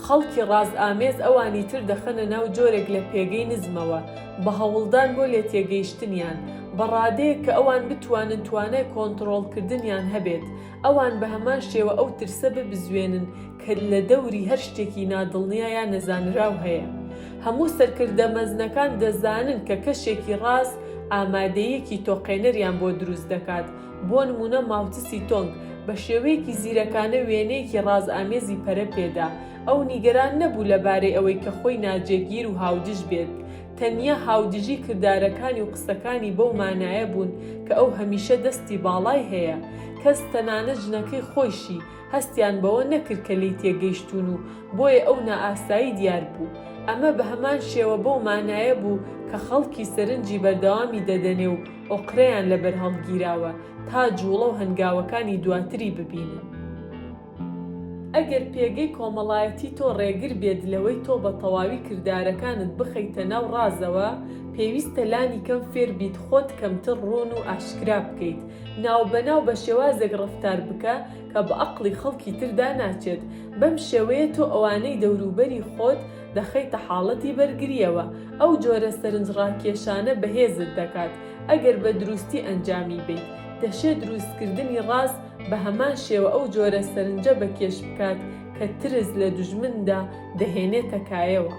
[SPEAKER 1] خەڵکی ڕازئامێز ئەوانی تر دەخەنە ناو جۆرێک لە پێگەی نزمەوە، بە هەوڵدان بۆ لێتێگەیشتنیان، بە ڕادەیەک کە ئەوان بتوانن توانای کۆنتڕۆڵکردنیان هەبێت، ئەوان بە هەمان شێوە ئەو ترسە ببزوێنن کە لە دەوری هەر شتێکی نادڵنیا یا نەزانراو هەیە. هەموو سەرکردە مەزنەکان دەزانن کە کەشێکی ڕاز ئامادەییەکی تۆقێنەریان بۆ دروست دەکات، بۆ نموونە ماوتسی تۆنگ بە شێوەیەکی زیرەکانە وێنەیەکی ڕازئامێزی پەرە پێدا، ئەو نیگەران نەبوو لەبارەی ئەوەی کە خۆی ناجێگیر و هاودژ بێت، تەنیا هاودژی کردارەکانی و قسەکانی بەو مانایە بوون کە ئەو هەمیشە دەستی باڵای هەیە، کەس تەنانەت ژنەکەی خۆیشی هەستیان بەوە نەکرد کە لێی تێگەیشتوون و بۆیە ئەو نائاسایی دیار بوو، ئەمە بەهەمان شێوە بەو مانایە بوو کە خەڵکی سەرنجی بەردەوامی دەدەنێ و ئۆقرەیان لەبەر هەڵگیراوە تا جووڵە و هەنگاوەکانی دواتری ببینن. ئەگەر پێگەی کۆمەڵایەتی تۆ ڕێگر بێت لەوەی تۆ بە تەواوی کردارەکانت بخەیتە ناو ڕازەوە، پێویستە لانی کەم فێر بیت خۆت کەمتر ڕوون و ئاشکرا بکەیت. ناوبەناو بە شێوازێک ڕەفتار بکە کە بە ئەقڵی خەڵکی تردا ناچێت. بەم شێوەیە تۆ ئەوانەی دەوروبەری خۆت دەخەیتە حاڵەتی بەرگرییەوە، ئەو جۆرە سەرنجڕاکێشانە بەهێزت دەکات، ئەگەر بە دروستی ئەنجامی بەیت، دەشێ دروستکردنی ڕاز بە هەمان شێوە ئەو جۆرە سەرنجە بە کێش بکات کە ترس لە دوژمندا دەهێنێتە کایەوە.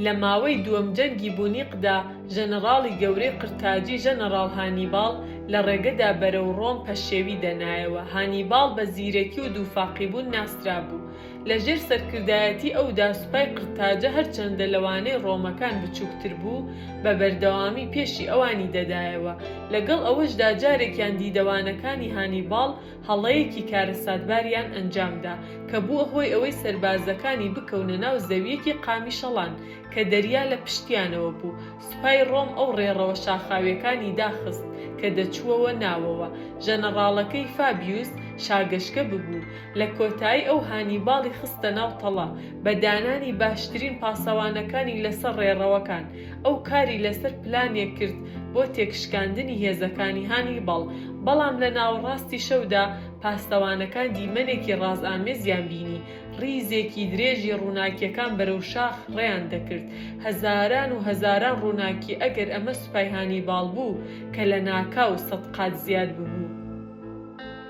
[SPEAKER 1] لە ماوەی دووەم جەنگی بونیقدا ژەنەڕاڵی گەورەی قرتاجی ژەنەڕاڵ هانیباڵ لە ڕێگەدا بەرەو ڕۆم پەشێوی دەنایەوە، هانیباڵ بە زیرەکی و دووفاقیبوون ناسرابوو، لە ژێر سەرکردایەتی ئەودا سوپای قرتاجە هەرچەندە لەوانەی ڕۆمەکان بچووکتر بوو، بە بەردەوامی پێشی ئەوانی دەدایەوە، لەگەڵ ئەوەشدا جارێکیان دیدەوانەکانی هانیباڵ هەڵەیەکی کارەساتباریان ئەنجامدا کە بووە هۆی ئەوەی سەربازەکانی بکەونە ناو زەوییەکی قامیشەڵان کە دەریا لە پشتیانەوە بوو. سوپای ڕۆم ئەو ڕێڕەوە شاخاویەکانی داخست کە دەچووەوە ناوەوە، ژەنەڕاڵەکەی فابیوس شاگەشکە ببوو، لە کۆتایی ئەو هانیباڵی خستە ناو تەڵە، بە دانانی باشترین پاسەوانەکانی لەسەر ڕێڕەوەکان، ئەو کاری لەسەر پلانێک کرد بۆ تێکشکاندنی هێزەکانی هانیباڵ، بەڵام لە ناوەڕاستی شەودا پاسەوانەکان دیمەنێکی ڕازئامێزیان بینی، ڕیزێکی درێژی ڕووناکییەکان بەرەو شاخ ڕێیان دەکرد، هەزاران و هەزاران ڕووناکی، ئەگەر ئەمە سوپای هانیباڵ بوو کە لە ناکاو سەد قات زیاد ببوو.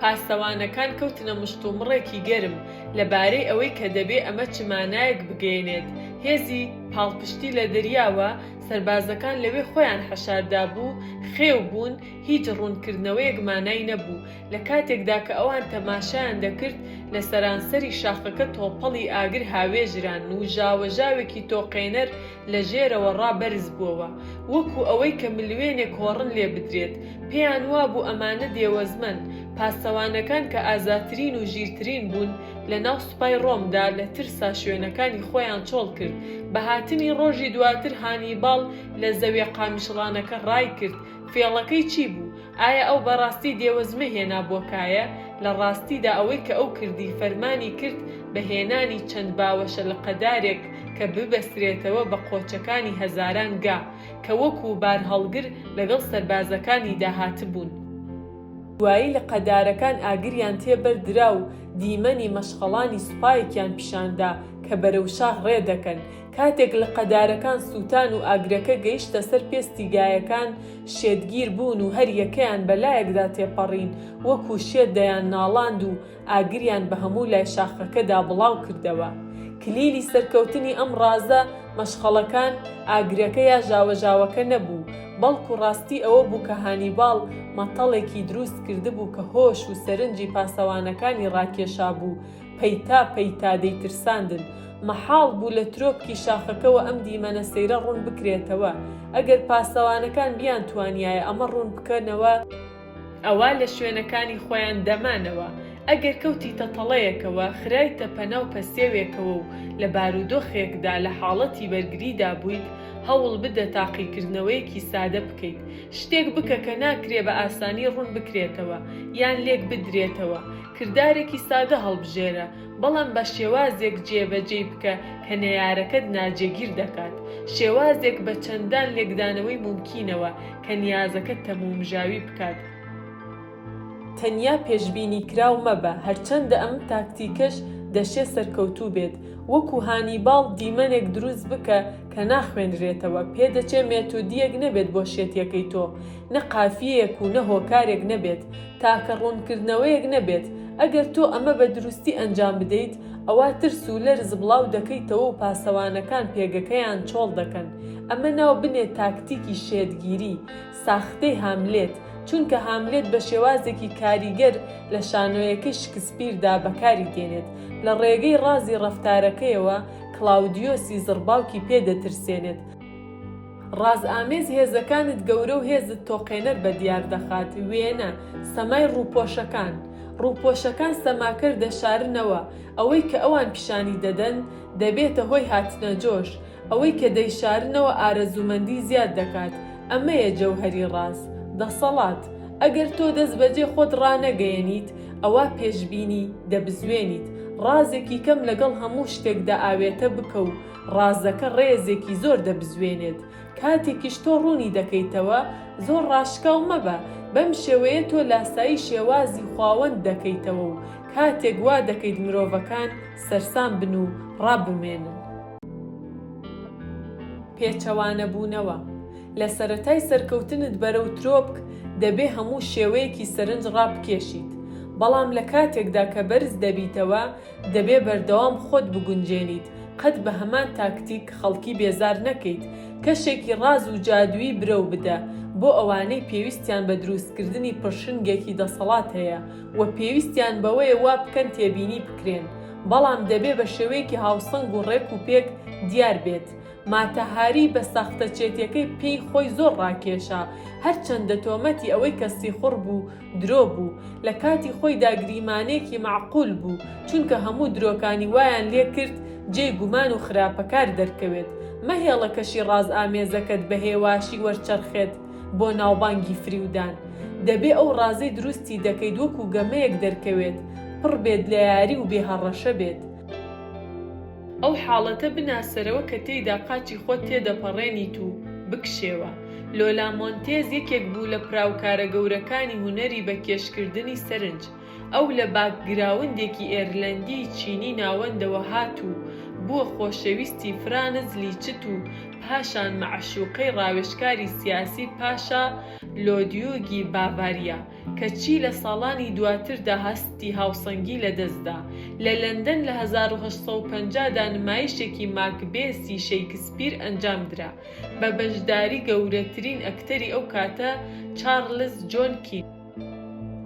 [SPEAKER 1] پاسەوانەکان کەوتنە مشتومڕێکی گەرم لەبارەی ئەوەی کە دەبێ ئەمە چ مانایەک بگەیەنێت، هێزی پاڵپشتی لە دەریاوە، سەربازەکان لەوێ خۆیان حەشار دابوو، خێو بوون، هیچ ڕوونکردنەوەیەک مانای نەبوو، لە کاتێکدا کە ئەوان تەماشایان دەکرد، لە سەرانسەری شاخەکە تۆپەڵی ئاگر هاوێژران و ژاوەژاوێکی تۆقێنەر لە ژێرەوە ڕا بەرز بووەوە، وەکوو ئەوەی کە ملوێنێک هۆڕن لێ بدرێت. پێیان وابوو ئەمانە دێوەزمەن. پاسەوانەکان کە ئازاترین و ژیرترین بوون لە ناو سوپای ڕۆمدا، لە ترسا شوێنەکانی خۆیان چۆڵ کرد. بە هاتنی ڕۆژی دواتر هانیباڵ لە زەویە قامیشڵانەکە ڕای کرد، فێڵەکەی چی بوو؟ ئایا ئەو بە ڕاستی دێوەزمە هێنا بۆ کایە؟ لە ڕاستیدا ئەوەی کە ئەو کردی فەرمانی کرد بە هێنانی چەند باوەشە لقەدارێک کە ببەسترێتەوە بە قۆچەکانی هەزاران گا کە وەکوو بارهەڵگر لەگەڵ سەربازەکانیدا هاتبوون. دوایی لقەدارەکان ئاگریان تێ بەر درا و دیمەنی مەشخەڵانی سوپایەکیان پیشان دا کە بەرەو شار ڕێ دەکەن. کاتێک لقەدارەکان سووتان و ئاگرەکە گەیشتە سەر پێستی گایەکان، شێتگیر بوون و هەر یەکەیان بە لایەکدا تێپەڕین، وەکوو شێت دەیان ناڵاند و ئاگریان بە هەموو لای شاخەکەدا بڵاو کردەوە. کلیلی سەرکەوتنی ئەم ڕازە مەشخەڵەکان، ئاگرەکە یا ژاوەژاوەکە نەبوو، بەڵکوو ڕاستی ئەوە بوو کە هانیباڵ مەتەڵێکی دروست کردبوو کە هۆش و سەرنجی پاسەوانەکانی ڕاکێشابوو پەیتا پەیتا دەیترساندن. مەحاڵ بوو لە ترۆپکی شاخەکەوە ئەم دیمەنە سەیرە ڕوون بکرێتەوە. ئەگەر پاسەوانەکان بیانتوانیایە ئەمە ڕوون بکەنەوە، ئەوا لە شوێنەکانی خۆیان دەمانەوە، ئەگەر کەوتیتە تەڵەیەکەوە، خرایتە پەناو پەسێوێکەوە و لە بارودۆخێکدا لە حاڵەتی بەرگریدا بوویت، هەوڵ بدە تاقیکردنەوەیەکی سادە بکەیت. شتێک بکە کە ناکرێ بە ئاسانی ڕوون بکرێتەوە یان لێک بدرێتەوە. کردارێکی سادە هەڵبژێرە، بەڵام بە شێوازێک جێبەجێی بکە کە نەیارەکەت ناجێگیر دەکات، شێوازێک بە چەندان لێکدانەوەی مومکینەوە کە نیازەکەت تەمومژاوی بکات. تەنیا پێشبینیکراو مەبە، هەرچەندە ئەم تاکتیکەش دەشێ سەرکەوتوو بێت. وەکوو هانیباڵ دیمەنێک دروست بکە کە ناخوێنرێتەوە، پێدەچێ مێتۆدییەک نەبێت بۆ شێتییەکەی تۆ، نە قافیەیەک و نە هۆکارێک نەبێت، تاکە ڕوونکردنەوەیەک نەبێت، ئەگەر تۆ ئەمە بە دروستی ئەنجام بدەیت، ئەوا ترس و لەرز بڵاو دەکەیتەوە و پاسەوانەکان پێگەکەیان چۆڵ دەکەن. ئەمە ناو بنێ تاکتیکی شێتگیری، ساختەی هاملێت، چونکە هاملێت بە شێوازێکی کاریگەر لە شانۆیەکەی شکسپیردا بەکاری دێنێت، لە ڕێگەی ڕازی ڕەفتارەکەیەوە کڵاودیۆسی زڕباوکی پێ دەترسێنێت، ڕازئامێز هێزەکانت گەورە و هێزت تۆقێنەر بە دیار دەخات، وێنە، سەمای ڕووپۆشەکان، ڕووپۆشەکان سەماکەر دەشارنەوە، ئەوەی کە ئەوان پیشانی دەدەن دەبێتە هۆی هاتنەجۆش، ئەوەی کە دەیشارنەوە ئارەزوومەندی زیاد دەکات، ئەمەیە جەوهەری ڕاز، دەسەڵات، ئەگەر تۆ دەستبەجێ خۆت ڕانەگەیەنیت ئەوا پێشبینی، دەبزوێنیت، ڕازێکی کەم لەگەڵ هەموو شتێکدا ئاوێتە بکە و، ڕازەکە ڕێزێکی زۆر دەبزوێنێت، کاتێکیش تۆ ڕوونی دەکەیتەوە، زۆر ڕاشکاو مەبە، بەم شێوەیە تۆ لاسایی شێوازی خواوەند دەکەیتەوە و کاتێک وا دەکەیت مرۆڤەکان سەرسام بن و ڕابمێنن. پێچەوانەبوونەوە، لە سەرەتای سەرکەوتنت بەرەو ترۆپک، دەبێ هەموو شێوەیەکی سەرنج ڕابکێشیت، بەڵام لە کاتێکدا کە بەرز دەبیتەوە، دەبێ بەردەوام خۆت بگونجێنیت قەت بە هەمان تاکتیک خەڵکی بێزار نەکەیت کەشێکی ڕاز و جادوویی برەو بدە بۆ ئەوانەی پێویستیان بە درووستکردنی پڕشنگێکی دەسەڵات هەیە و پێویستیان بەوەیە وا بکەن تێبینی بکرێن بەڵام دەبێ بە شێوەیەکی هاوسەنگ و ڕێک و پێک دیار بێت ماتا هاری بە ساختەچێتیەکەی پێی خۆی زۆر ڕاکێشا هەرچەندە تۆمەتی ئەوەی کە سیخوڕ بوو درۆ بوو لە کاتی خۆیدا گریمانەیەکی مەعقول بوو چونکە هەموو درۆکانی وایان لێ کرد جێی گومان و خراپەکار دەرکەوێت مەهێڵە کەشی ڕاز ئامێزەکەت بە هێواشی وەرچەرخێت بۆ ناوبانگی فریودان دەبێ ئەو ڕازەی دروستی دەکەیت وەکو گەمەیەک دەرکەوێت پڕ بێت لە یاری و بێ هەڕەشە بێت. ئەو حاڵەتە بناسەرەوە کە تێیدا قاچی خۆت تێدەپەڕێنیت و بکشێوە. لۆلا مۆنتێز یەکێک بوو لە پراوکارە گەورەکانی هونەری بە کێشکردنی سەرنج. ئەو لە باکگراوندێکی ئێرلەندیی چینی ناوەندەوە هات و بووە خۆشەویستی فرانز لیچت و پاشان مەعشووقەی ڕاوێژکاری سیاسی پاشا لۆدیوگی باڤاریا. کەچی لە ساڵانی دواتردا هەستی هاوسەنگی لەدەستدا. لە لەندەن لە هەزار و هەشت سەد و پەنجا دا نمایشێکی ماکبێسی شەیکسپیر ئەنجامدرا بە بەشداری گەورەترین ئەکتەری ئەو کاتە چارلز جۆن کیت.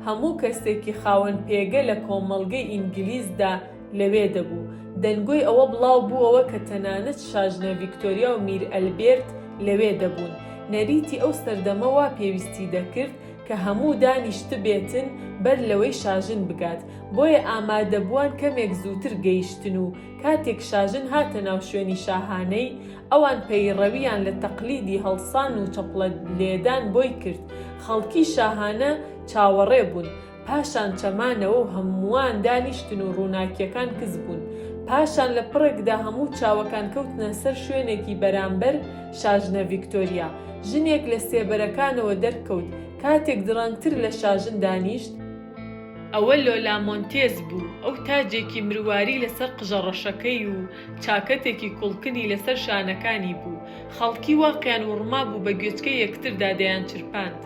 [SPEAKER 1] هەموو کەسێکی خاوەن پێگە لە کۆمەڵگەی ئینگلیزدا لەوێ دەبوو. دەنگۆی ئەوە بڵاوبووەوە کە تەنانەت شاژنە ڤیکتۆریا و میر ئەلبێرت لەوێ دەبوون. نەریتی ئەو سەردەمە وا پێویستی دەکرد، کە هەموو دانیشتبێتن بەر لەوەی شاژن بگات، بۆیە ئامادەبووان کەمێک زووتر گەیشتن و کاتێک شاژن هاتە ناو شوێنی شاهانەی، ئەوان پەیڕەویان لە تەقلیدی هەڵسان و چەپڵە لێدان بۆی کرد، خەڵکی شاهانە چاوەڕێ بوون، پاشان چەمانەوە و هەمووان دانیشتن و ڕووناکییەکان کز بوون، پاشان لە پڕێکدا هەموو چاوەکان کەوتنە سەر شوێنێکی بەرامبەر، شاژنە ڤیکتۆریا، ژنێک لە سێبەرەکانەوە دەرکەوت، کاتێک دڕەنگتر لە شاژن دانیشت، ئەوە لۆلا مۆنتێز بوو، ئەو تاجێکی مرواری لەسەر قژە ڕەشەکەی و چاکەتێکی کوڵکنی لەسەر شانەکانی بوو، خەڵکی واقیان وڕمابوو بە گوێچکەی یەکتردا دەیانچرپاند،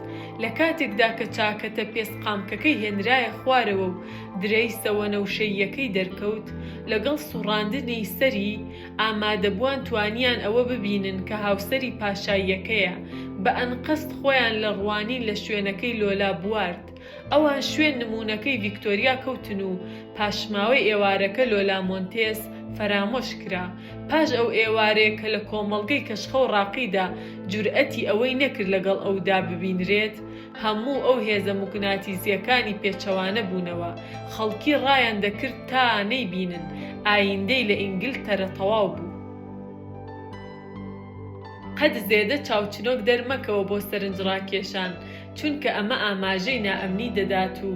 [SPEAKER 1] لە کاتێکدا کە چاکەتە پێست قامکەکەی هێنرایە خوارەوە و درەیسە وەنەوشەییەکەی دەرکەوت، لەگەڵ سوڕاندنی سەری، ئامادەبووان توانیان ئەوە ببینن کە هاوسەری پاشاییەکەیە، بە ئەنقەست خۆیان لە ڕوانین لە شوێنەکەی لۆلا بوارد. ئەوان شوێن نموونەکەی ڤیکتۆریا کەوتن و پاشماوەی ئێوارەکە لۆلا مۆنتێس فەرامۆش کرا. پاش ئەو ئێوارەیە کە لە کۆمەڵگەی کەشخە و ڕاقیدا جورئەتی ئەوەی نەکرد لەگەڵ ئەودا ببینرێت، هەموو ئەو هێزە موگناتیزیەکانی پێچەوانە بوونەوە، خەڵکی ڕایان دەکرد تا نەیبینن، ئایندەی لە ئینگلتەرە تەواو بوو. قەت زێدە چاوچنۆک دەرمەکەوە بۆ سەرنجڕاکێشان، چونکە ئەمە ئاماژەی نائەمنی دەدات و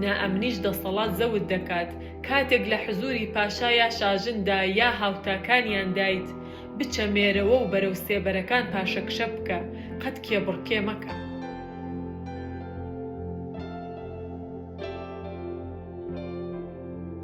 [SPEAKER 1] نائەمنیش دەسەڵات زەوت دەکات، کاتێک لە حزوری پاشا یا شاژندا یا هاوتاکانیاندایت، بچە مێرەوە و بەرەو سێبەرەکان پاشەکشە بکە، قەت کێبڕکێ مەکە.